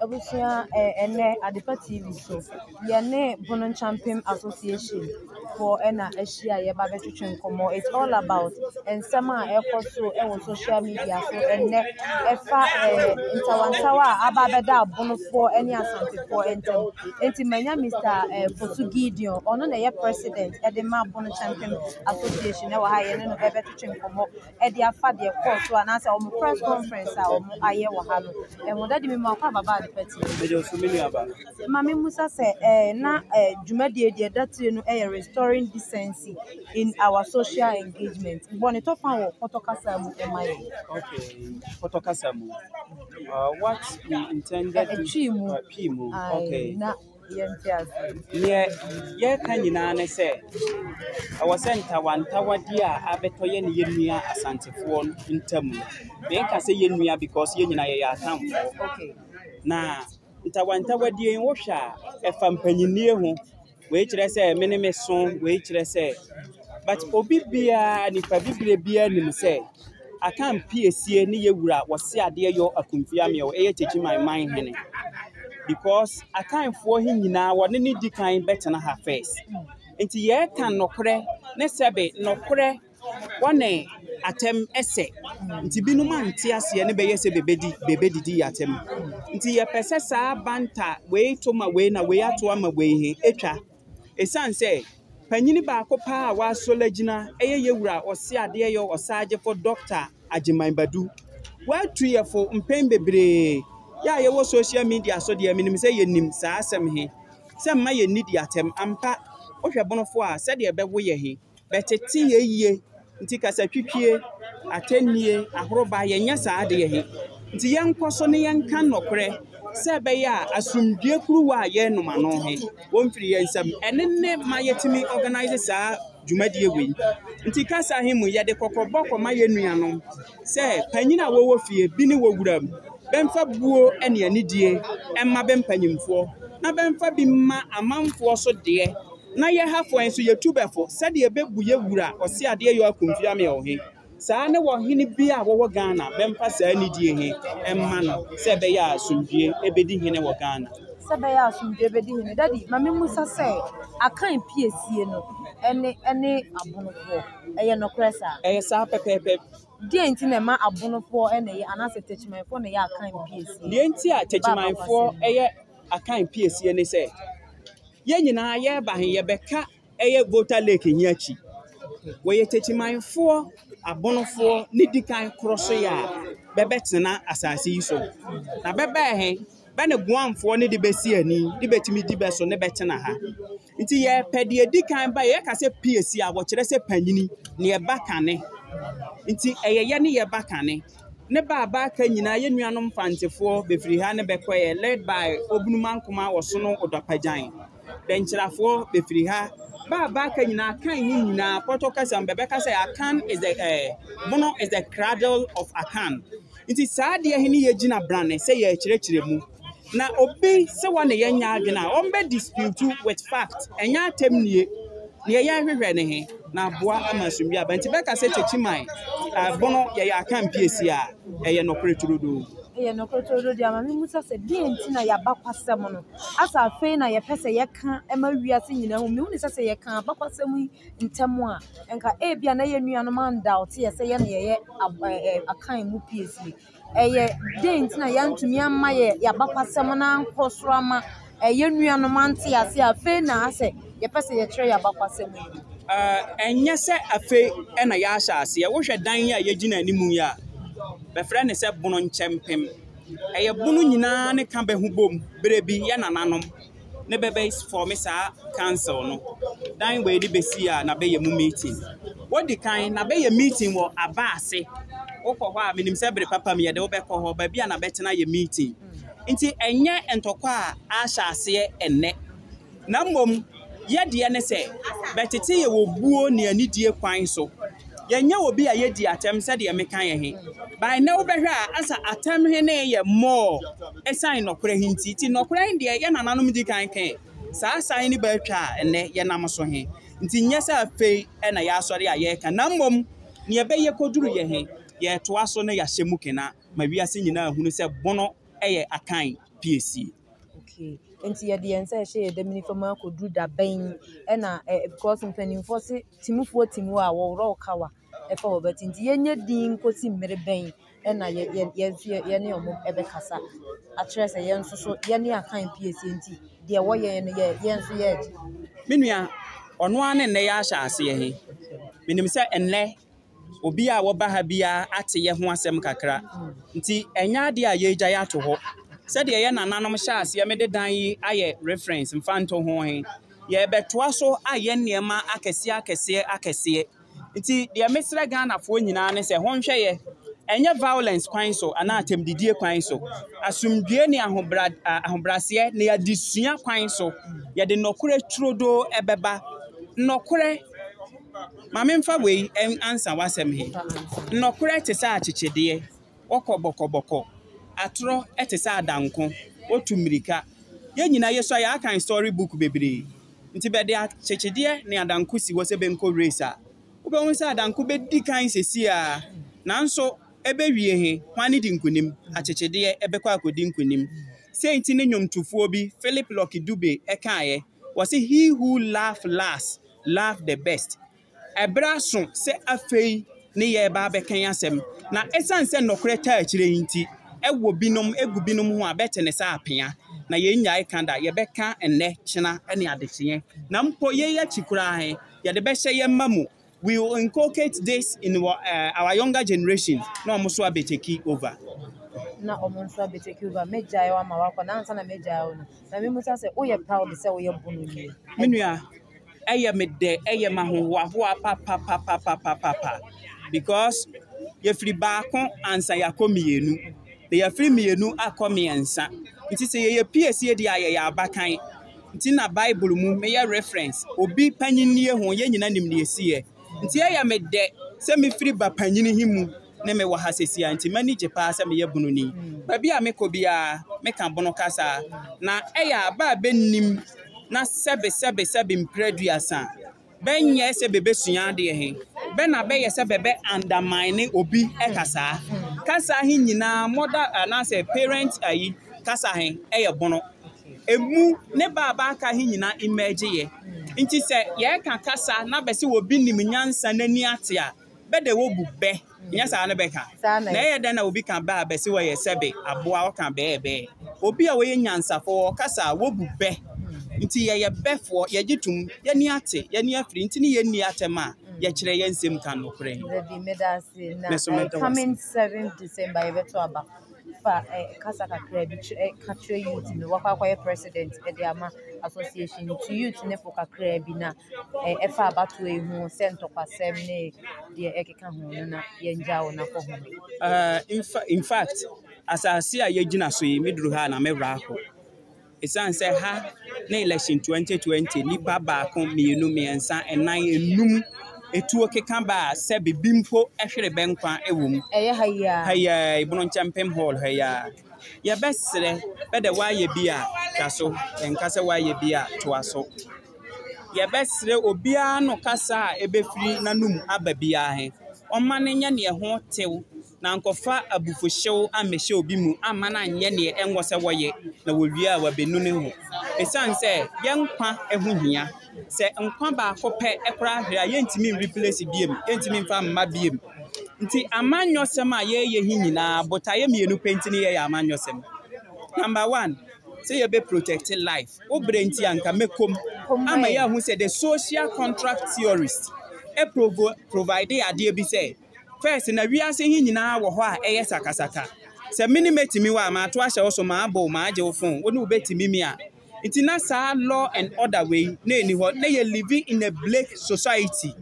Abusua ɛ ɛnnɛ adepa TV so, yɛne Bono Nkyɛmpem Association foɔ na ahyia a yɛreba abɛtwetwe nkɔmmɔ. It's all about nsɛm a ɛrekɔ so wɔ social media so ɛnnɛ, ɛfa ɛ ntawantawa a aba abɛda Abonofoɔ ne Asantefoɔ ntam. Enti manya Mister ɛ Fosu Gideon, ɔno na ɛyɛ President de ma Bono Nkyɛmpem Association wɔ ha a yɛne no bɛbɛtwetwe nkɔmmɔ. de afa deɛ ɛkɔɔ so anaasɛ wɔn press conference a wɔn ayɛ wɔ ha no ɛho dadi mi mu akɔ ababa ade pɛtɛ. ɛdi nso mi nua ba. maame musa sɛ ɛɛ na ɛɛ dwumadie deɛ ɛda tire no ɛyɛ restoring decency in our social engagement bɔ ne tɔfa wɔ pɔtɔ kasa mu ɛma yɛ. okay pɔtɔ kasa mu uh, what we intended. ɛtwi mu ɛtwi mu okay. na yɛnte ase. Nea yɛreka nyinaa ne sɛ, ɛwɔ sɛ ntawantawadeɛ a abɛtɔ yɛne yɛn nua Asantefoɔ ntam no, menka sɛ yɛn nua because yɛn nyinaa yɛyɛ atamfoɔ. Okay. Na ntawantawadeɛ yi wohwɛ a, ɛfa mpanyinie ho. Wei kyerɛ sɛ me ne me so, wei kyerɛ sɛ, but obi biara, nipa bibire biara nim sɛ, Akan Piesie ne yɛ wura wɔse adeɛ yɔ akumfia meɛw ɛyɛ kyekyi man man hene because akanfoɔ he nyinaa wɔne ne di kan bɛtena ha first nti yɛɛka nɔkorɛ ne sɛbe nɔkorɛ wɔne atɛm ɛsɛ nti binom ante aseɛ ne bɛyɛ sɛ bebedi bebedidi yɛ atɛm nti yɛpɛ sɛ saa banta wei to ma wei na wei ato ama wei he atwa Esiane sɛ panyin baako paa a wasɔre agyina yɛ yɛn wura Ɔseadeɛyɔ Ɔsaagyefo Dɔkta Agyeman Badu. Watu yɛn fo mpɛn bebree. Yɛn a yɛwɔ social media so deɛ, menim sɛ yɛnim saa asɛm he, sɛ mma yɛnnidi atɛm. Ampa, wohwɛ Bonofoɔ a, sɛdeɛ ɛbɛwo yɛ he, Bɛtete yɛ yie nti kasatwitwie, atɛnnie, ahoroba yɛnyɛ saa adeɛ he. Nti yɛnkɔ so ne yɛnka nɔkorɛ sɛ ɛbɛyɛ a asomdwie kuruwa a yɛrenom ano he, wɔmfiri yɛ nsam. Ɛno ne ma yɛtumi ɔganase saa dwumadie wei. Nti kasa he mu yɛde kɔkɔbɔ kɔma yɛ nuanom sɛ panyini a wɔwɔ fie bi ne wɔ wuram bɛmfa buo ne anidie mma bɛ mpanyimfoɔ na bɛmfa bi mma amanfoɔ so deɛ. Na yɛ ha fɔe nso, yɛtu bɛfo sɛdeɛ yɛbɛbu yɛ wura Ɔseadeɛ York Kunfiamyɛw he saa ne ɔhene biaa a wɔwɔ Ghana bɛmfa saa nidie he mma no sɛ ɛbɛyɛ a asomdwie bɛdi hene wɔ Ghana. Sɛ ɛbɛyɛ a asomdwie bɛdi hene. Daddy, ma memmisa sɛ, Akan piesie no ne ne Abonofoɔ, ɛyɛ nokorɛ saa? Ɛyɛ saa pɛpɛɛpɛ. Deɛn nti na ɛma Abonofoɔ na ɛyɛ anaasɛ Techimanfoɔ na ɛyɛ Akan piesie? Deɛ nti a Techimanfoɔ yɛ. Akan piesie ne sɛ yɛn nyinaa yɛreba he yɛbɛka ɛyɛ Volta Lake he akyi. Wɔyɛ Techimanfoɔ, Abonofoɔ ne dikan korɔ so yɛ a bɛbɛtena asaase yi so. Na bɛbɛɛ he, bɛ ne Guamfoɔ ne de bɛsi ani de bɛtumi di bɛ so ne bɛtena ha. Nti yɛpɛ deɛ dikan ba yɛka sɛ piesie a wɔkyerɛ sɛ panyini ne ɛba kane. Nti ɛyɛ yɛ ne yɛba kane. ne ba a bɛaka nyinaa yɛ nuanom Mfantefoɔ bɛfiri ha ne bɛkɔeɛ led by Obunumankoma Ɔsono Odɔpagyan, Dɛnkyirafoɔ bɛfiri ha ba a bɛaka nyinaa Akan mu nyinaa Pɔtɔ kasa mu bɛbɛka sɛ Akan is the eh, Bono is the cradle of Akan nti saa adeɛ he ne yɛgyina brane sɛ yɛrekyerɛkyerɛ mu. Na obi se wɔ ne yɛnyɛ adwene a, ɔmbɛ dispute with fact, ɛnyɛ atɛm nie. Neɛ yɛhwehwɛ ne he, na aboa ama asomdwie aba. Nti bɛka sɛ Kyekyiman bono yɛyɛ akanpiesi a, ɛyɛ nɔkore turodoo. Ɛyɛ nɔkore turodoo deɛ ama me musa sɛ deɛ nti na yɛabakwasɛm no asa afei na yɛpɛ sɛ yɛka ɛma wiase nyinaa hu. Mehu ne sɛ sɛ yɛka abakwasɛm yi ntɛm a, nka ebi a na yɛn nuanom andaote yɛ sɛ yɛn na yɛyɛ akan mu piesie. ɛyɛ dɛn nti na yɛantumi amma yɛn yɛn abakɔsɛm no ankɔ so amma yɛn nuanom ante ase a afei na asɛ yɛpɛ sɛ yɛkyerɛ yɛn abakɔsɛm yi? Ɛnyɛ sɛ afei na yɛahyɛ aseɛ. Wohwɛ dan yi a yɛgyina anim yi a, bɛfrɛ no sɛ Bono Nkyɛmpem. Ɛyɛ Bono nyinaa ne ka bɛ ho bom, berɛ bi yɛ nananom. ne bɛ bɛ fɔme saa council no. Dan wei de bɛ si a na bɛ yɛ mu meeting. Wodi kan na bɛ yɛ meeting wɔ aba ase. Wokɔ hɔ a menim sɛ bere papa mu yɛde wo bɛkɔ hɔ baabi a na bɛtena yɛ meeting. Nti ɛnyɛ ntɔkwa a ahyɛ aseɛ ɛnnɛ. Na mmom yɛ deɛ ne sɛ bɛtete yɛ wɔ buo ne anidie kwan so. Yɛnyɛ obi a yedi atɛm sɛdeɛ meka yɛ he. By nnɛ wobɛhwɛ a asa atɛm he ne yɛ more esiane nɔkorɛ he nti. Nti nɔkorɛ he deɛ yɛ nananom di kan kɛɛ saa asa he ne bɛ atwa a nnɛ yɛnam so he. Nti nyɛ sɛ afei na yɛasɔre a yɛɛka na mmom nea ɛbɛyɛ koduruiɛ he yɛɛtoa so na yɛahyɛ mu kena ma wiase nyinaa ahunu sɛ bono yɛ akan piesie. Okay, nti yɛde yɛn nsa ɛhyɛ yɛn dam nifa mu akɔduru da bɛn? Ɛna eh, because mpanimfoɔ se. Timfoɔ tim wo a, wɔworɔ wo kawa fa wo ba ti nti, yɛnyɛ dinn nkɔsi mmere bɛn na yɛne wɔn bɛkasa akyerɛ sɛ yɛn nso so yɛne Akan piesie nti, deɛ wɔyɛ yɛn no yɛn nso yɛregye. Me nua, ɔno ara ne nnɛ yɛahyɛ aseɛ he. Menim sɛ nnɛ obi a ɔba ha biara ate yɛn ho asɛm kakra. Nti ɛnyɛ adeɛ a yɛregyae ato hɔ. Sɛdeɛ yɛn nananom hyɛɛ aseɛ mede dan yi ayɛ reference mfa nto ho he, yɛrebɛtoa so ayɛ nneɛma akɛseɛ akɛseɛ akɛseɛ. Nti deɛ mesrɛ Ghanafoɔ nyinaa ne sɛ honhwɛ yɛ, ɛnyɛ violence kwan so anaa atɛmdidie kwan so, asomdwoeɛ ne ahobra, ahobraseɛ ne adesua kwan so yɛde nnɔkorɛ turodoo bɛba. Nnɔkorɛ. Ma memfa wei ansa w'asɛm he. Nnɔkorɛ te sɛ akyekyedeɛ, wɔkɔ bɔkɔbɔkɔ. Atorɔ te sɛ adanko, wotu mmirika. Yɛ nyinaa yɛsua, yɛakan story book bebree. Nti bɛde akyekyedeɛ ne adanko si hɔ sɛ bɛnkɔ race a, wobɛhu sɛ adanko bɛdi kan seesei ara. Nanso ɛbɛwie he, hwane di nkonim? Akyekyedeɛ bɛkɔ akɔdi nkonim. Sei nti ne nnwomtofoɔ bi, Philip Lucky Dube, kaeɛ, ɔse, He who laugh last Love the Best. Bere aso sɛ afei ne yɛreba abɛka yi asɛm, na esiane sɛ nɔkorɛ taa akyire yi nti, ɛwɔ binom, egu binom ho a, bɛte ne sɛ apea. Na yɛrennyae ka da, yɛbɛka nnɛ, kyena, ne adekyeɛ. Na mpo yei akyi koraa he, yɛde bɛhyɛ yɛ mma mu, we will inculcate this in wɔ eh, our younger generation, na wɔn nso abɛtake over. na wɔn nso abɛtake over. Mɛgyae wo ama woakɔ, na ansa na mɛgyae wo no, Maame Musa sɛ, Woyɛ proud sɛ woyɛ Bono ni? Me nua, ɛyɛ me dɛ, ɛyɛ me ahohoahoa papapapapapapa because yɛfiri baako ansa yɛakɔ mmienu, na yɛfiri mmienu akɔ mmiɛnsa. Nti sɛ yɛyɛ peers yɛ di a yɛyɛ abakan. Nti na Bible mu meyɛ reference, obi panyinnie ho yɛn nyinaa nim deɛ ɛsiiɛ. Nti ɛyɛ me dɛ sɛ mefiri ba panyini he mu ne me wɔ ha seesei a, enti m'ani gye paa sɛ meyɛ Bononi. Baabi a mekɔ biara, meka Bono kasa, na ɛyɛ a bɛ a bennim na sɛbesɛbesɛbe mpire aduasa bɛnyɛɛ sɛ bebesua adeɛ he, bɛ na bɛyɛ sɛ bɛbɛ undermine obi kasaa. Kasa he nyinaa, mother anaasɛ parent ayi kasa he, ɛyɛ Bono. Emu ne bɛ a bɛaka he nyinaa emergeeɛ. Nti sɛ yɛɛka kasa na bɛse obi nim nyansa na ani ate a, Bɛ de wobu bɛ, nyɛ saa na bɛka? Na ɛyɛ dɛn na obi ka bɛ a bɛse wɔyɛ sɛbe aboa a ɔka bɛɛbɛɛ? Obi a ɔyɛ nyansafo, ɔkasa a, wobu bɛ. Nti yɛyɛ bɛfoɔ, yɛgye tom, yɛani ate, yɛani afiri, nti ne yɛnni atɛm a yɛkyerɛ yɛn nsɛm ka nokorɛ. Dabi, meda ase, na Me nso ɛɛ meda wo ase. coming seventh December yɛbɛto aba. Fa ɛɛ kasa kakra bi kyerɛ ɛɛ ka kyerɛ youth no, wakɔ akɔyɛ president ɛde ama association no. Tu youth no fo kakra bi na ɛfa abatoɔ yi ho sɛ ntɔkwasɛm ne deɛ ɛkeka ho no na yɛngya wo na kɔ ho. Uh, in, fa in fact, asase a yɛgyina so yi, meduru ha na mɛwerɛ akɔ. Ɛsiane sɛ ha ne election 2020, nnipa baako, mmienu, mmiɛnsa, nnan, enum, etuo keka ba a sɛ bibi mpo hwere bɛnkwa wɔ mu. Ɛyɛ ha yi a. Ha yi a, Ebono Nkyɛmpem Hall ha yi a. Yɛbɛserɛ, bɛdɛ woayɛ bi a, twa so. Yɛnka sɛ woayɛ bi a, toa so. yɛbɛserɛ obiara no kasa a ebefiri n'anomu aba biara he, ɔmma no nyɛ deɛ ɛho tew, na nkɔfa abufuhyew ammɛhyɛ obi mu amma no anyɛ deɛ ɛnsɛ sɛ wɔyɛ, na wɔwie a wɔabenu ne ho. Esiane sɛ yɛn nkwa ho hia, sɛ nkwa baako pɛ koraa hwere a, yɛntumi nreplace bio, yɛntumi mfa mma bio. Nti amanyɔsɛm a yɛreyɛ he nyinaa, botaeɛ mmienu pɛ nti ne yɛyɛ amanyɔsɛm. Number one. sɛ yɛ bɛ project life wo brɛ nti a nka mɛkɔ mu ama yɛ ahu sɛ the social contract theorist ɛprovo provide adeɛ bi sɛ first na wiase he nyinaa wɔ hɔ a ɛyɛ sakasaka sɛ me ne mɛtumi wɔ a maato ahyɛ wo so maabo maagye wo fon wo ne wobɛtumi mi a nti na saa law and order wei na ɛni hɔ na yɛ living in a blake society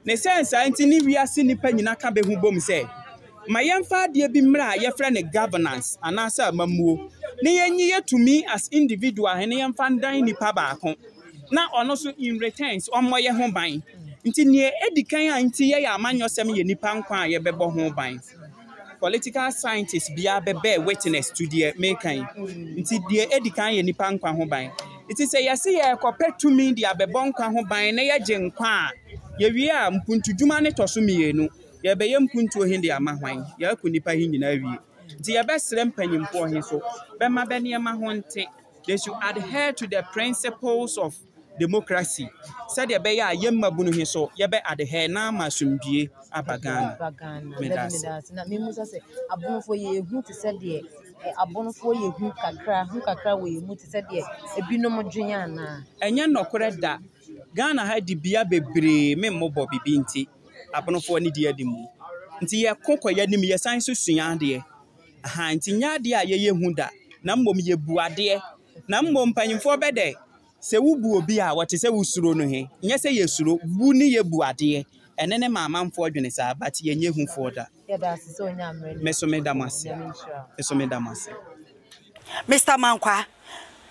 na esiane saa nti ne wiase nnipa nyinaa ka bɛ ho bom sɛ, Ma yɛmfa adeɛ bi mmra a yɛfrɛ no governance anaasɛ amammuo na yɛnyi yɛ tumi as individual na yɛmfa ndan nnipa baako na ɔno nso in returns ɔmmɔ yɛ ho ban. Nti nea ɛdi kan a nti yɛyɛ amanyɔsɛm yɛ nnipa nkwa a yɛbɛbɔ ho ban. Political scientist biara bɛ bear witness to deɛ meka yi. Nti deɛ edi kan yɛ nipa nkwa ho ban. Nti sɛ yɛse yɛrekɔpɛ tumi de abɛbɔ nkwa ho ban na yɛgye nkwa a, yɛwie a mpuntudwuma no tɔ so mmienu. Yɛrebɛyɛ mpuntuo he de ama hwan? Yɛako nnipa he nyinaa awie. Nti yɛbɛsrɛ mpanyimfoɔ he so bɛma bɛ nneɛma ho nte. They should adhere to the principles of. demokrasi sɛdeɛ ɛbɛyɛ a yɛn mmabunu he so yɛbɛ adehɛɛ na ama asomdwie aba Ghana. Medase. Na memusa sɛ abonofoɔ yɛ hu te sɛ deɛ eh, abonofoɔ yɛ hu kakra hu kakra wɔ yɛn mu te sɛ deɛ ebinom dwen anaa? Ɛnyɛ nɔkorɛ da. Ghana ha dibea bebree me mmobɔ bibi nti abonofoɔ ne di adi mu. Nti yɛko kɔ yɛn anim yɛsan nso sua adeɛ. Ahaa nti nyɛ adeɛ a yɛyɛ hu da na mmom yɛbu adeɛ Na mmom mpanyimfoɔ bɛdɛ sɛ wobu obi a wɔte sɛ wosuro no he, nyɛ sɛ yɛsuro, bu ne yɛbu adeɛ, ɛno ne ma amanfoɔ dwene saa, but yɛnyɛ hufoɔ da. Me so meda mo ase. Me so meda mo ase. Mister Mankwaa,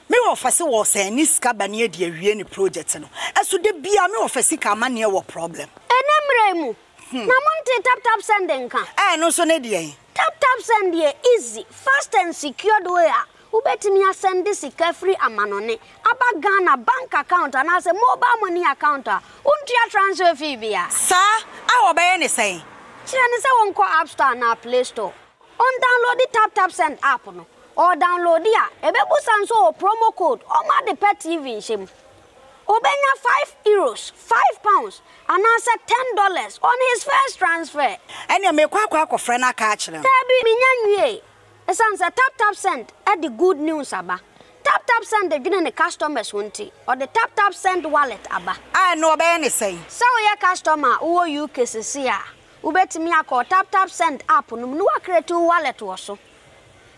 me wɔ fɛse wɔ sɛ ne sika ba ne adi awie ne project no ɛso da biaa me wɔ fɛ sika ama neɛ wɔ problem. Ɛnɛ mmerɛ yi mu na mo ntee tap tap send nka. Ɛɛ ɛno nso ne deɛn? Tap tap send yɛ easy, fast and secured way a Wobɛtumi asɛnde sika firi amanɔne aba Ghana bank account anaasɛ mobile money account a wontua transfer fee bia. Saa a wɔbɛyɛ ne sɛn? Kyerɛ no sɛ ɔnkɔ App Store anaa Play Store, ɔndownloadi Tap Tap Send app no. Ɔredownloadi a, ɛbɛbusa no sɛ ɔwɔ promo code ɔma ade pɛ TV nhyɛ mu. Ɔbɛnya five Euros, five pounds, anaasɛ ten dollars on his first transfer. Ɛneɛ merekɔ akɔ akɔfrɛ no aka akyerɛ no. Daabi, menya nwiee. Esiane sɛ TapTapSend de good news aba, TapTapSend dwene ne customers ho nti, ɔde TapTapSend Wallet aba. A ɛno wɔbɛyɛ no sɛn? Sɛ woyɛ customer a wowɔ UK sesei a, wobɛtumi akɔ wo TapTapSend app no mu na woacreate wo wallet wɔ so.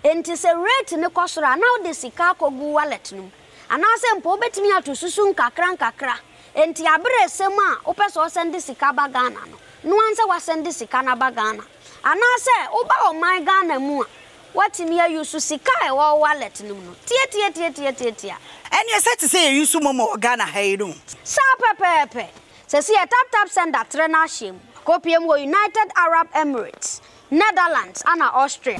Enti sɛ rate no kɔ soro a, na wode sika akɔgu wo wallet no mu. Anaasɛ mpo wobɛtumi ato susu nkakra nkakra. Enti aberesɛm a wopɛ sɛ ɔsɛnde sika ba Ghana no, noa nsɛ woasɛnde sika no aba Ghana. Anaasɛ woba ɔman Ghana mu a, woatumi ayusu sika a ɛwɔ wo wallet no mu no tiatiatiatiatiatia. Ɛnneɛ sɛ te sɛ yɛyusu momo wɔ Ghana ha yi no. Saa pɛpɛɛpɛ. Seesei yɛ Tap Tap Send atrɛ no ahyɛ mu. Kɔpue mu wɔ United Arab Emirates, Netherlands ɛna Austria.